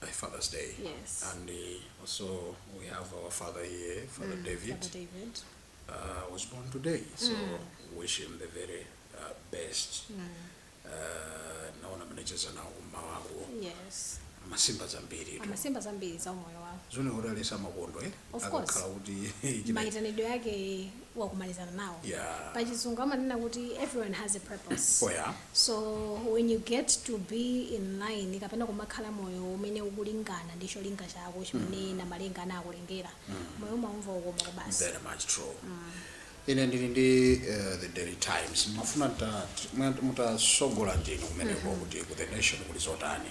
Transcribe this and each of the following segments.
by Father's Day. Yes. And uh, also we have our father here, Father mm, David. Father David. Uh, was born today, so mm. wish him the very uh, best. Mm. Uh, naona mnacheza na umma wako. Yes. masimba zambiri tu masimba zambiri za umoyo wao zone kuti alesa makondo eh of course kuti maitanidwe yake wa kumalizana nawo Yeah. pa chizungu amanena kuti everyone has a purpose Oh, yeah. so when you get to be in line kapena kumakhala moyo umene ukulingana ndi cholinga chako chimene namalenga ana akulengera moyo umaumva ukoma kubasi very much true ine ndili ndi eh, the daily times mafuna ta- mwe- mutatsogola ndinu kumeneko kuti ku the nation kuli zotani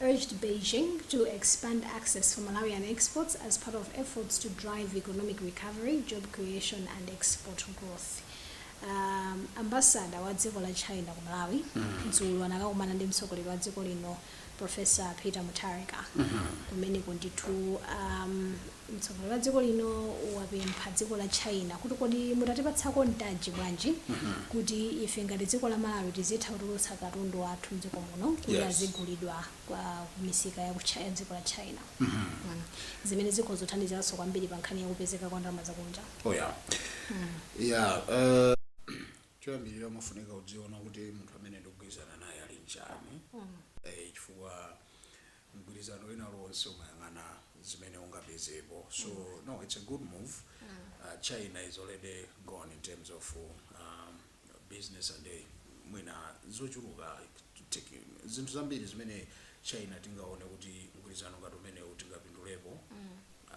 urged Beijing to expand access for Malawian exports as part of efforts to drive economic recovery, job creation and export growth. Um, ambassador wa dziko la China ku Malawi dzulo anakakumana ndi mtsogoleri wa dziko lino Professor Peter Mutharika kumeneko ndithu um, mtsogoleri wa dziko lino wapempha dziko la China kuti kodi mutatipatsako mpata bwanji kuti ife ngati dziko la Malawi tizitha kutulutsa katundu wathu mdziko muno kuti Yes. azigulidwa kwa kumisika ya ku Chi- ya dziko la China Mm. zimene zikhoza kuthandiziranso kwambiri pa nkhani ya kupezeka kwa ndalama zakunja oh yeah yeah uh, choyambirira umafunika kudziona kuti munthu amene ndikugwirizana naye ali m'chiyani eh, chifukwa mgwirizano wina uliwonse umayang'ana zimene ungapezepo so no it's a good move uh, china is already gone in terms of um, business and eh, mwina zochuluka tiki- zinthu zambiri zimene china tingaone kuti mgwirizano ngati umenewu tingapindulepo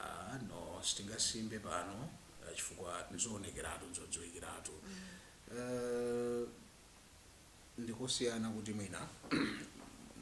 Ah, no sitingasimbe pano ah, chifukwa nzoonekeratu nzodziwikiratu Eh, ndikosiyana kuti mwina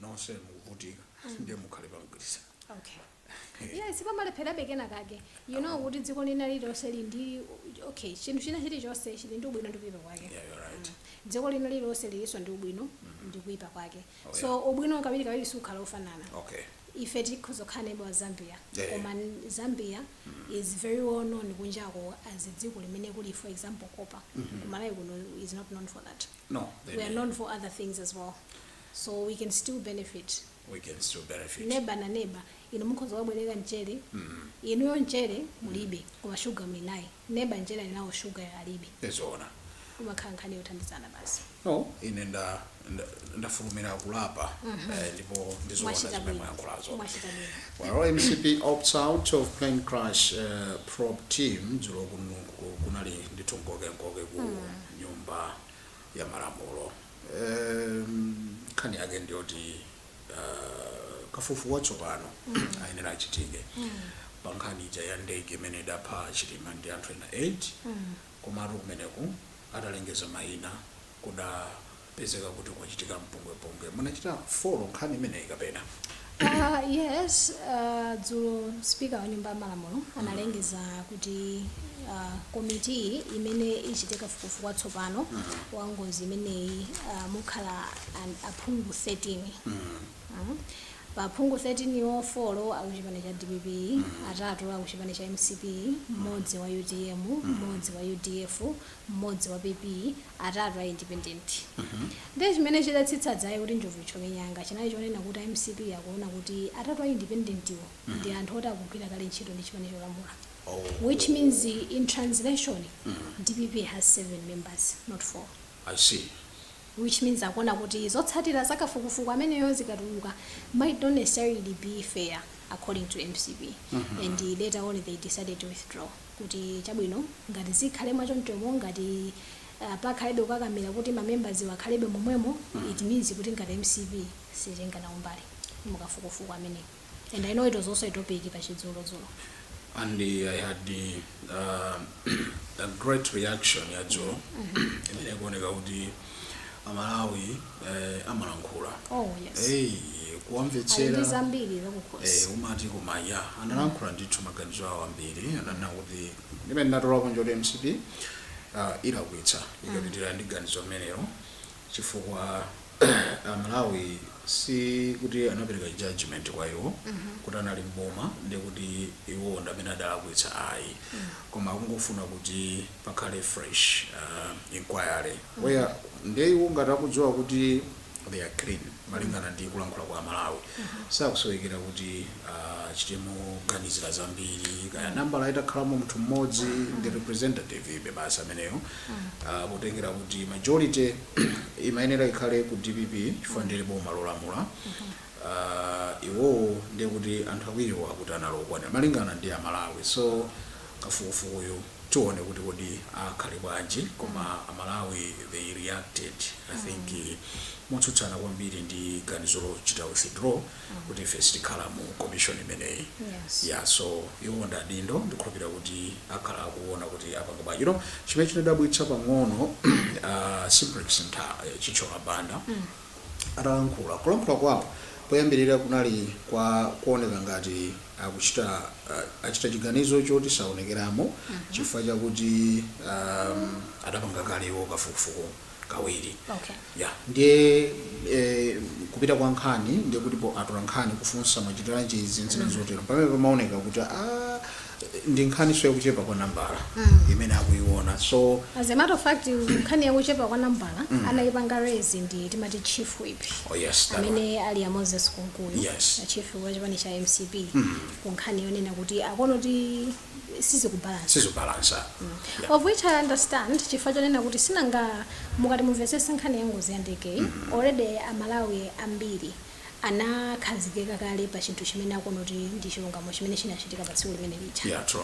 nonse mukuvutika mm. ndiye mukhale pamgwirizano okay yeah sipamalepherabe kena kake you know kuti dziko lina lililonse lili ndi okay chinthu china chilichonse chili ndi ubwino ndi kuipa kwake yeah, you're right. mm. dziko lina lililonse lilinso ndi ubwino mm -hmm. ndi kuipa kwake oh, so yeah. ubwino kawiri kawiri sukhala ofanana okay ife tikhozokhala neighbor wa zambia yeah. koma zambia mm -hmm. is very well known kunjako as dziko limene kuli for example copper mm -hmm. kumalawi kuno is not known for that No, they we are didn't. known for other things as well so we can still benefit We can still benefit. neba na neba inu mukhoza kuwabwereka mchere inuyo mchere mulibe koma shuga muli naye neba mchere ali nawo shuga alibe Ndizoona. kumakhala nkhani yothandizana basi No, ine nda nda- ndafulumira kulapa eh, ndipo ndizoona mwachita zimene bwino mwayankhulazo. mwachita bwino Well, MCP opts out of plane crash uh, probe team dzulo kuno ku- kunali ndithu nkokenkoke ku nyumba ya malamulo. Nkhani yake ndiyoti uh, kafukufuku watsopano ayenera achitike pa nkhani ija ya ndege imene idapha Chilima ndi anthu ena 8 komatu kumeneku atalengeza mayina kuda pezeka kuti kwachitika mpungwepungwe. Munachita follow nkhani imeneyi kapena? Uh, yes, uh, dzulo speaker wa nyumba ya malamulo analengeza kuti uh, komiti imene ichite kafukufuku watsopano wa ngozi imeneyi uh, mukhala an- aphungu 13 Mm. pa aphungu 13 wo folo akuchipani cha dpp atatu akuchipani cha mcp mmodzi wa utm mmodzi wa udf mmodzi wa PP, atatu a independent. Ndiye chimene chidatsitsa dzaye kuti njovu ithyoke nyanga chinali chonena kuti a mcp akuona kuti atatu a independentiwo ndi anthu oti akugwira kale ntchito ndi chipani cholamula which means in translation dpp has seven members not four I see. which means akuona kuti zotsatira za kafukufuku ameneyo zikatuluka might not necessarily be fair according to mcp and later on they decided to withdraw kuti chabwino ngati zikhale mwachonchomo ngati pakhalebe kukakamila kuti ma members wo akhalebe momwemo it means kuti ngati mcp sititenga nawo mbali mukafukufuku ameneyi and i know it was also a topic pa chidzulo dzulo. and i had a great reaction ya dzulo imene ikuoneka kuti amalawi eh, amalankhula oh yes hey, ali ndi kuwamvetsera zambiri zakukhosi Eh, umati koma ya analankhula ndithu maganizo awo ambiri ananena kuti ndimene ndinatola konko kuti mcp ah, ilakwitsa ikapitira ndi ganizo limenelo chifukwa amalawi si kuti anapereka judgment kwa iwo kuti anali mboma ndi kuti iwo ndamene adalakwitsa ayi koma akungofuna kuti pakhale fresh inquiry. Eya ndiye iwo ngati akudziwa kuti they are clean malingana ndi kulankhula kwa amalawi sakusowekera kuti achite moganizira zambiri kaya nambala itakhalamo munthu mmodzi ndi representative ibe basi ameneyo Ah, potengera kuti majority imayenera ikhale ku dpp chifukwa ndilo boma lolamula Ah, iwowo ndiye kuti anthu awiriwo akuti analokwanira malingana ndi amalawi so kafukufukuyu tione kuti kodi akhale bwanji koma amalawi they reacted i think motsutsana kwambiri ndi ganizo lochita withdraw kuti ife sitikhala mu commission imeneyi Yes. ya so iwo ndi adindo ndikhulupirira kuti akhala akuona kuti apanga bwanji you know chimene chinadabwitsa pang'ono uh, Simplex Chithyola Banda atalankhula kulankhula kwawo poyambirira kunali kwa kuoneka ngati akuchita ah, achita chiganizo choti saonekeramo chifukwa chakuti um, adapanga kalewo kafukufuku kawiri Okay. ya ndiye eh, kupita kwa nkhani ndiye kuti po atola nkhani kufunsa machitiranji izi nzina zotero pamene pamaoneka kuti ah, ndi nkhani so yakuchepa kwa nambala imene akuiona so as a matter of fact nkhani yakuchepa kwa nambala anayipanga raise ndi amati chief whip oh yes that one. amene ali a moses kunkuyu Yes. a chief wa chipani cha mcp ku nkhani yonena kuti akuona kuti sizikubalansa of which i understand chifukwa chonena kuti sinanga mukati mumvetsese nkhani ya ngozi ya ndege already amalawi ambiri anakhazikika kale pa chinthu chimene akuona kuti ndi chilungamo chimene chinachitika pa tsiku limene lija yeah true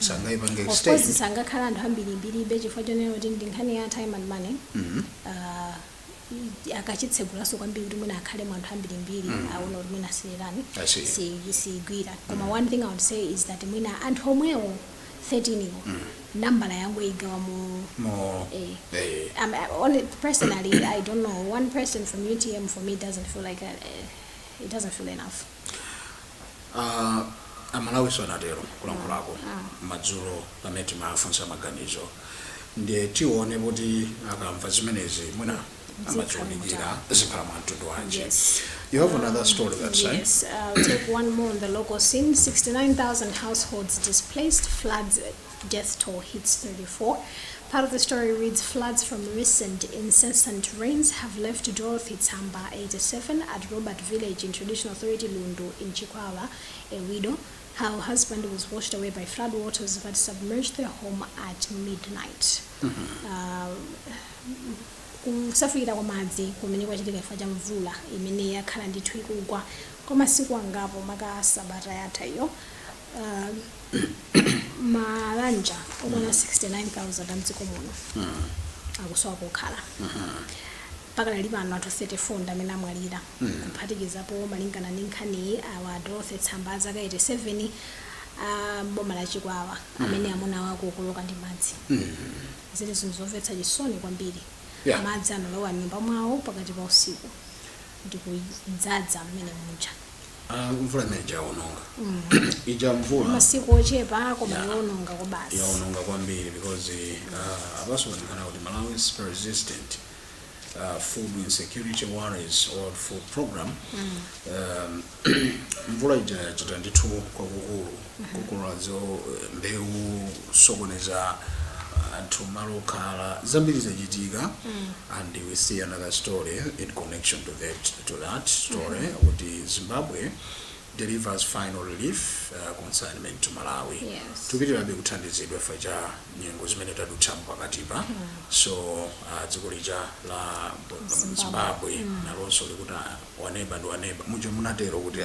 sangayipange of course extend sangakhala anthu ambirimbiribe chifukwa chonena kuti ndi nkhani ya time and money Ah, i- akachitsegulaso kwambiri kuti mwina akhale mu anthu ambirimbiri aona kuti mwina asiyirani I see. si- siyigwira koma one thing i would say is that mwina anthu omwewo 13 iwo nambala yangu ikanakhala more Eh. eh, um, I- only personally, I don't know. One person from UTM for me doesn't feel like a, uh, it doesn't feel enough. Ah, amalawiso anatero kulankhulako madzulo pamene timafunsa maganizo ndiye tione kuti akamva zimenezi mwina akadziunikira zikhala mwa mtundu wanji Yes. you have another story that side Yes, uh, take one more on the local scene. 69,000 households displaced, floods Death Toll Hits 34. Part of the story reads Floods from recent incessant rains have left Dorothy Tsamba, 87, at Robert Village in Traditional Authority Lundu in Chikwawa, a widow. Her husband was washed away by flood waters that submerged their home at midnight. Uh, kusefukira kwa madzi kumene kwachitika chifukwa cha mvula imene yakhala ndithu ikugwa kwa masiku angapo maka sabata yatha iyo uh, mabanja okwana 69000 amdziko muno akusowa kokhala pakadali pano anthu 34 ndi amene amwalira kuphatikizapo malingana ndi nkhaniyi awa dorothy tsamba a zaka 87 a mboma la chikwawa amene amuna awo anakokoloka ndi madzi zili zinthu zomvetsa chisoni kwambiri Yeah. madzi analowa m'nyumba mwawo pakati pa usiku ndikudzadza mmene muja Ah, mvula imene yaononga ija mvula masiku ochepa koma Yeah. yowononga kwabasi yaononga kwambiri because uh, apaso paonekana kuti malawi's persistent uh, food insecurity worries World food program um, mvula ija yachita ndithu kwakukulu kukolola za mbewu kusokoneza anthu malo okhala zambiri zachitika and we see another story in connection to that, to that story kuti zimbabwe delivers final relief uh, consignment to malawi Yes. tupitirabe kuthandizidwa chifukwa cha nyengo zimene tadutsamu pakatipa so uh, dziko lija la zimbabwe nalonso likuti waneba ndi waneba muja munatero kuti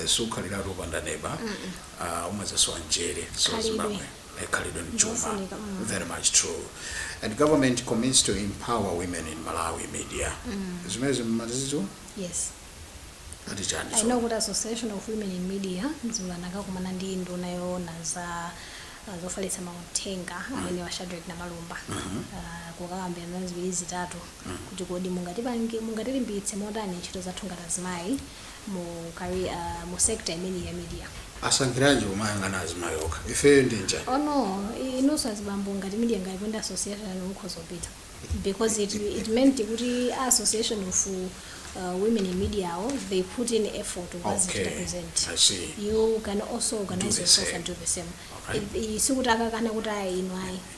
sikhaliratu opanda neba ah, umazasowa njere so Khalidwe. zimbabwe eh, khalidwe ndi chuma Zofunika, mm. very much true and government commits to empower women in malawi media zimenezi zimenezitu yes ati chani I so? know kuti association of women in media dzulo anakakumana ndi nduna yoona za uh, zofalitsa mauthenga amene wa Shadrack Namalomba uh, kukakambirana ziwiri zitatu kuti kodi mungatipange, mungatilimbitse motani ntchito zathu ngati azimayi mu career, mu sector imeneyi ya media? Asankhiranji kumayang'ana azimayi okha? Ifeyo ndiye chani? Oh no, i- inunso azibambo ngati media ngati pali association yanu mukhoza kupita because it, it meant kuti a association of uh, women in media awo they put in effort to was Okay, represent I see. you can also organize the yourself same. and do the same Alright. I- i- sikuti akakana kuti ayi ino ayi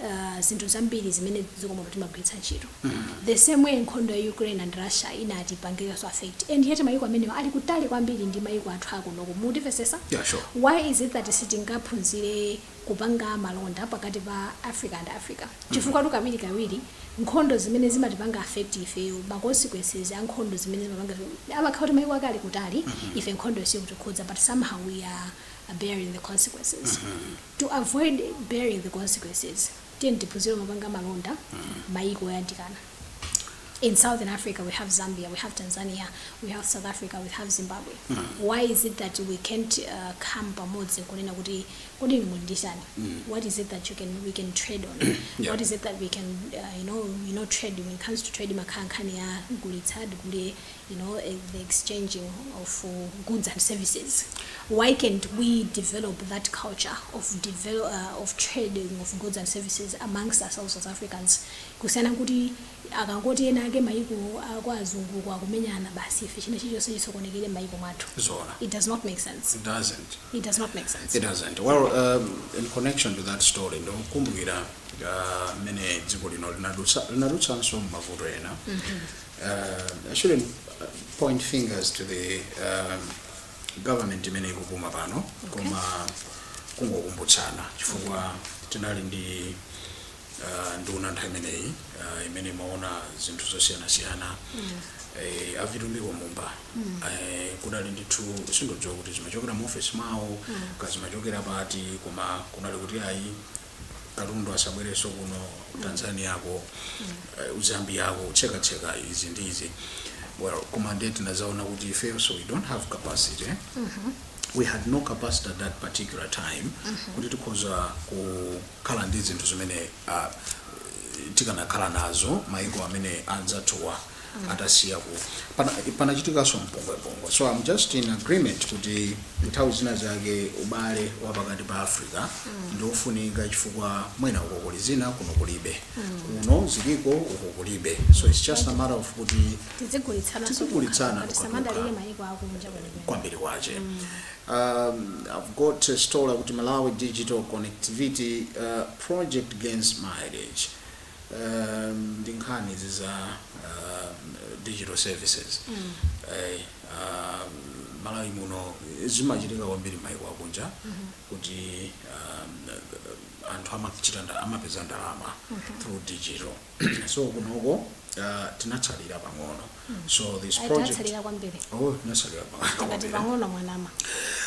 uh, zinthu zambiri zimene dziko muno timagwiritsa ntchito the same way nkhondo ya ukraine and russia inatipangiranso affect and yet mayiko amenewa ali kutali kwambiri ndi mayiko athu akunoko mukumvetsetsa Yeah, sure. why is it that sitingaphunzire kupanga malonda pakati pa africa and africa chifukwatu kawiri kawiri nkhondo zimene zimatipanga affect ifeyo ma consequences a nkhondo zimene zimapanga amakhala kuti mayiko ake ali kutali ife nkhondo isakutikhudza but somehow we are bearing the consequences To avoid bearing the consequences tiyeni tiphunzire kumapanga malonda mayiko oyandikana. In southern Africa we have Zambia, we have Tanzania, we have South Africa, we have Zimbabwe. Why is it that we can't uh, come pamodzi kunena kuti kodi inu muli ndi chani? What is it that you can, we can trade on? Yeah. What is it that we can uh, you know, you know trade when it comes to trade imakhala nkhani ya gulitsa ndigule you know, eh, the exchanging of uh, goods and services. Why can't we develop that culture of develop, uh, of trading of goods and services amongst ourselves as Africans? Kusiyana kuti akangoti ena ake maiko akwa azungu kwa kumenyana basi ife china chilichonse chisokonekere maiko mwathu. Zoona. It does not make sense. It doesn't. It does not make sense. It doesn't. Well, um, in connection to that story, ndakumbukira uh, mmene dziko lino linadutsa- linadutsanso m'mavuto ena uh, I shouldn't uh, point fingers to the um, government imene ikupuma pano koma kungokumbutsana chifukwa tinali ndi uh, nduna nthawi imeneyi uh, imene imaona zinthu zosiyanasiyana eh, avitumbiko mumba eh, kunali ndithu sindidziwa kuti zimachokera mu office mwawo kaya zimachokera pati koma kunali kuti ayi katundu asabwerenso kuno tanzaniako uh, zambiako kutsekatseka izi ndi izi well koma ndiye tinazaona kuti ifeyo nso we don't have capacity eh? we had no capacity at that particular time kuti tikhoza kukhala ndi zinthu zimene uh, tikanakhala nazo maiko amene anzathuwa atasiya ku panachitikanso mpungwepungwe so i'm just in agreement kuti nthawi zina zake ubale wa pakati pa africa ndi ofunika chifukwa mwina uko kuli zina kuno kulibe kuno ziliko uko kulibe so it's just a matter of kuti tizigulitsana Tizigulitsana kuti titukuke. tisamadalire mayiko akunja kwenikweni kwambiri kwache um, i've got a story kuti malawi digital connectivity uh, project gains mileage um, ndi nkhani izi za uh, digital services mm. eh, uh, malawi muno zimachitika kwambiri maiko akunja mm -hmm. kuti um, anthu amachita nda- amapeza ndalama through digital so kunoko uh, tinatsalira pang'ono so this Ayi, project tatsalira kwambiri oh tinatsalira pakati pakati pang'ono mwanama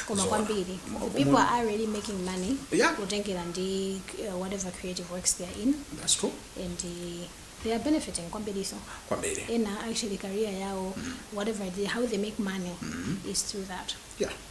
koma Zoona. kwambiri Mo- the people mo- are already making money Yeah. kutengera ndi uh, whatever creative works they are in that's true and uh, they are benefiting kwambirinso kwambiri ena actually career yao whatever they, how they make money is through that yeah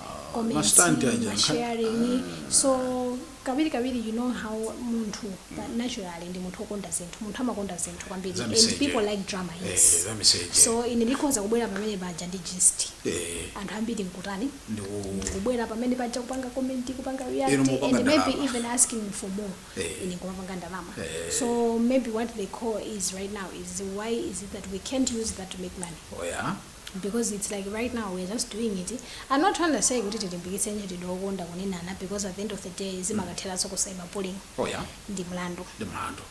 Macomments aja. masharing so kawiri kawiri you know how munthu pa- naturally ndi munthu okonda zinthu munthu amakonda zinthu kwambiri Za miseche. and people like drama Eh, yes za miseche. so ine ndikhoza kubwera pamene paja ndi gist Eh, anthu ambiri nkutani ndiku- kubwera pamene paja kupanga comment kupanga react Inu mukupanga ndalama. and maybe even asking for more Eh. ine nkumapanga ndalama Eh. so maybe what they call is right now is why is it that we can't use that to make money oh yeah because its like right now we are just doing it i'm not trying to say kuti tilimbikitse ntchitidwe okonda kunenana because at the end of the day zimakatheranso ku cyberbullying oh yeah ndi mlandu ndi mlandu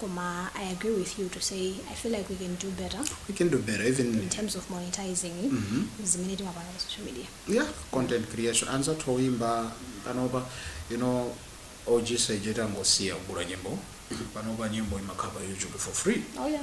koma i agree with you to say i feel like we can do better we can do better even in terms of monetizing zimene timapanga pa social media yeah content creation anzathu oyimba panopa you know og sejeta tangosiya kugula nyimbo panopa nyimbo imakhala pa youtube for free oh yeah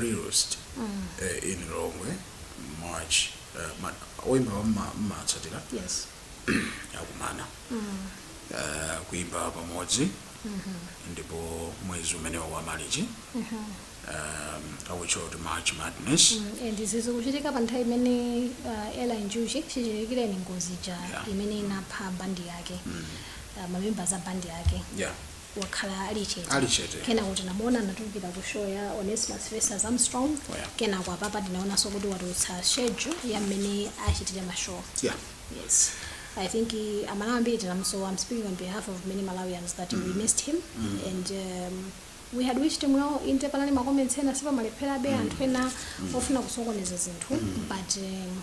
realist eh, in lomwe march eh, ma- oyimba amene mmatsatira yes akumana Eh, kuimba pamodzi ndipo mwezi umenewa wa malichi akutchula kuti march madness Mm, and izi zikuchitika pa nthawi imene uh, Eli Njuchi chichitikire ni ngozi ja Yeah. imene inapha bandi yake uh, mamembers a bandi yake yeah wakhala ali chete. Ali chete. Kenako tinamuona anatulukira ku show ya Onesimus vs Armstrong. Oh, yeah. Kenako apapa tinaonanso kuti watulutsa schedule ya mmene achitire ma show. Yeah. Yes. I think uh, Amalawi ambiri tinamusowa. I'm speaking on behalf of many Malawians that we missed him and um, we had wished him well in the panali ma comments ena sipamalephera be anthu ena ofuna kusokoneza zinthu but um,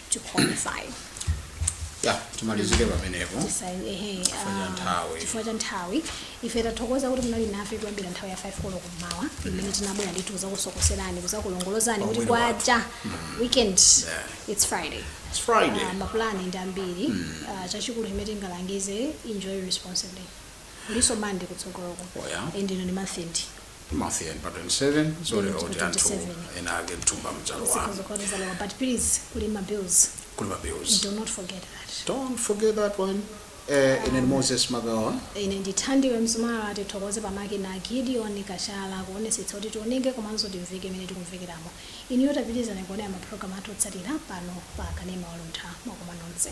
to qualify ya timalizire pamenepo Tisai- ehe, Chifukwa cha ah, nthawi. chifukwa cha nthawi ife tathokoza kuti munali nafe kuyambira nthawi ya 5 koloko mmawa imene tinabwera ndithu kuzakusokoserani kuzakulongolozani kuti Pamwiri wathu. kwacha weekend Yeah. it's friday It's Friday. Ah, mapulani ndi ambiri Ah, chachikulu chimene tingalangize enjoy responsibly kulinso Monday kutsogoloko Oh, yeah. and ino ndi month end Month end pa 27 ndiye kuti anthu 27. ena ake mthumba mwalowa Zikhoza kukhala zalowa, but please kuli ma bills kuli ma bills do not forget that don't forget that one uh, ine ndi moses magawa ine ndi Thandiwe Mzumara tithokoze pa makina Gideon Kachala kuonetsetsa kuti tioneke komanso timveke imene tikumvekeramo inuyo tapitirizani kuonera mapulogalamu athu otsatira pano pa kanema waluntha mwakoma nonse